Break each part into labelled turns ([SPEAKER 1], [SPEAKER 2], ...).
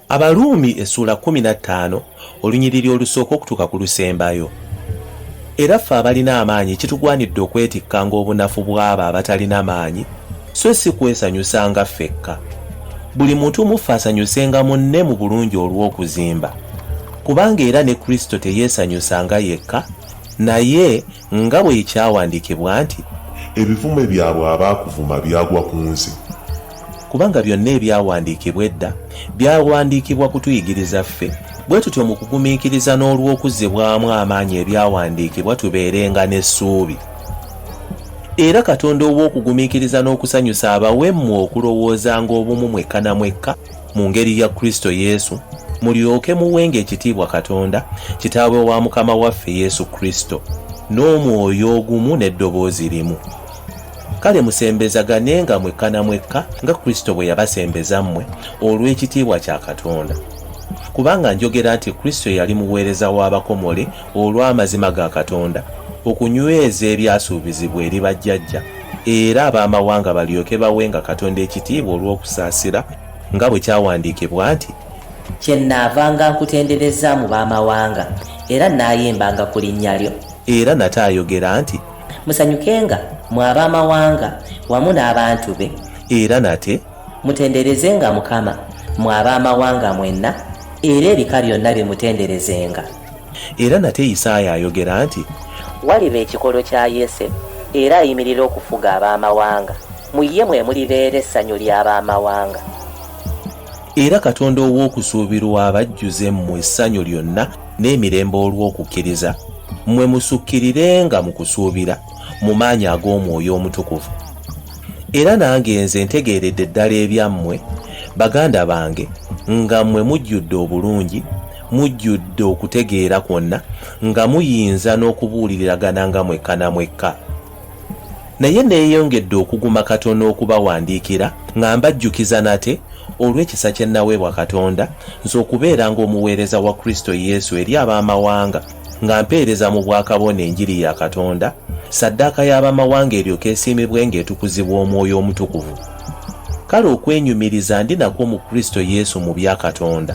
[SPEAKER 1] abaruumi essuula 15 olunyiriri olusooka okutuuka ku lusembayo era ffe abalina amaanyi kitugwanidde okwetikkanga obunafu bw'abo abatalina maanyi so si kwesanyusanga ffekka buli muntu muffe asanyusenga munne mu bulungi olw'okuzimba kubanga era ne kristo teyeesanyusanga yekka naye Nga bwe kyawandiikibwa nti. Ebivume byabwe
[SPEAKER 2] abaakuvuma byagwa ku nze. Kubanga
[SPEAKER 1] byonna ebyawandiikibwa edda byawandiikibwa kutuyigiriza ffe, bwe tutyo mu kugumiikiriza n'olw'okuzzibwamu amaanyi ebyawandiikibwa tubeerenga n'essuubi. Era Katonda ow'okugumiikiriza n'okusanyusa abawe mmwe okulowoozanga obumu mwekka na mwekka, mu ngeri ya Kristo Yesu, mulyoke muwenga ekitiibwa Katonda, Kitaawe wa Mukama waffe Yesu Kristo, n'omwoyo ogumu n'eddoboozi limu. Kale musembezaganenga mwekka na mwekka nga Kristo bwe yabasembeza mmwe olw'ekitiibwa kya Katonda. Kubanga njogera nti Kristo yali muweereza w'abakomole olw'amazima ga Katonda, okunyweza ebyasuubizibwa eri bajjajja, era ab'amawanga balyoke bawenga Katonda ekitiibwa olw'okusaasira, nga bwe kyawandiikibwa nti. Kyennaavanga
[SPEAKER 3] nkutendereza mu b'amawanga, era nnaayimbanga ku linnya lyo. Era nate ayogera
[SPEAKER 1] nti. Musanyukenga,
[SPEAKER 3] mmwe ab'amawanga, wamu n'abantu be. Era nate.
[SPEAKER 1] Mutenderezenga
[SPEAKER 3] Mukama, mmwe ab'amawanga mwenna, era ebika byonna bimutenderezenga. Era
[SPEAKER 1] nate Isaaya ayogera nti. Waliba ekikolo
[SPEAKER 3] kya Yese, era ayimirira okufuga ab'amawanga, mu ye mwe mulibeera essanyu ly'ab'amawanga.
[SPEAKER 1] Era Katonda ow'okusuubirwa abajjuze mmwe essanyu lyonna n'emirembe olw'okukkiriza, mmwe musukkirirenga mu kusuubira, mu maanyi ag'Omwoyo Omutukuvu. Era nange nze ntegeeredde ddala ebyammwe, baganda bange, nga mmwe mujjudde obulungi, mujjudde okutegeera kwonna nga muyinza n'okubuuliriragana nga mwekka na mwekka naye neeyongedde okuguma katonda okubawandiikira nga mbajjukiza nate olw'ekisa kye nnaweebwa katonda nze okubeera ng'omuweereza wa kristo yesu eri ab'amawanga nga mpeereza mu bwakabona enjiri ya katonda saddaaka y'abamawanga eryoka esiimibwe ng'etukuzibwa omwoyo omutukuvu kale okwenyumiriza ndi nakwo mu kristo yesu mu bya katonda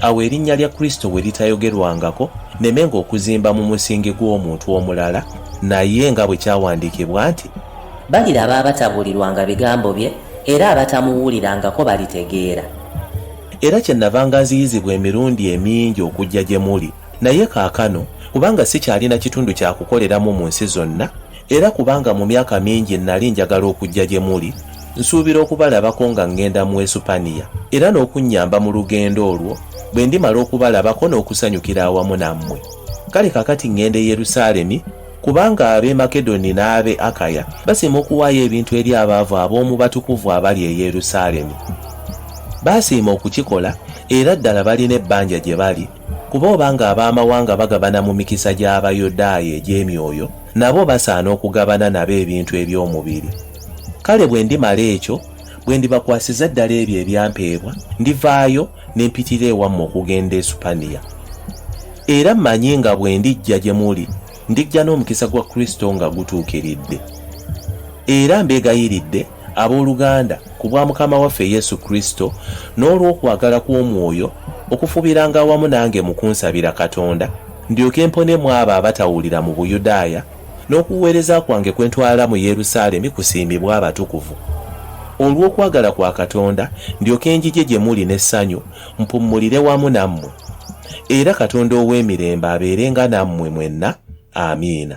[SPEAKER 1] Awo erinnya lya Kristo bwe litayogerwangako, nneme ng'okuzimba mu musingi gw'omuntu omulala, naye nga bwe kyawandiikibwa nti. Baliraba
[SPEAKER 3] abatabuulirwanga bigambo bye, era abatamuwulirangako balitegeera. Era
[SPEAKER 1] kyennava nga nziyizibwa emirundi emingi okujja gye muli, naye kaakano, kubanga sikyalina kitundu kya kukoleramu mu nsi zonna, Era kubanga mu myaka mingi nnali njagala okujja gye muli, nsuubira okubalabako nga ŋŋenda mu Esupaniya, era n'okunnyamba mu lugendo olwo, bwe ndimala okubalabako n'okusanyukira awamu nammwe. Kale kaakati ŋŋenda e Yerusaalemi, kubanga ab'e Makedoni n'ab'e Akaya basiima okuwaayo ebintu eri abaavu ab'omu batukuvu abali e Yerusaalemi. Baasiima okukikola, era ddala balina ebbanja gye bali, Kuba obanga ab'amawanga bagabana mu mikisa gy'Abayudaaya egy'emyoyo, nabo basaana okugabana nabo ebintu eby'omubiri. Kale bwe ndimala ekyo, bwe ndibakwasiza ddala ebyo ebyampeebwa, ndivaayo ne mpitira ewammwe okugenda e Supaniya. Era mmanyi nga bwe ndijja gye muli, ndijja n'omukisa gwa Kristo nga gutuukiridde. Era mbeegayiridde abooluganda ku bwa Mukama waffe Yesu Kristo n'olw'okwagala kw'Omwoyo okufubiranga awamu nange mu kunsabira Katonda ndyoke mponemu abo abatawulira mu Buyudaaya n'okuweereza kwange kwe ntwala mu Yerusaalemi kusiimibwe abatukuvu olw'okwagala kwa Katonda ndyoke njije gye muli n'essanyu mpummulire wamu nammwe. era katonda ow'emirembe abeerenga nammwe mwenna amiina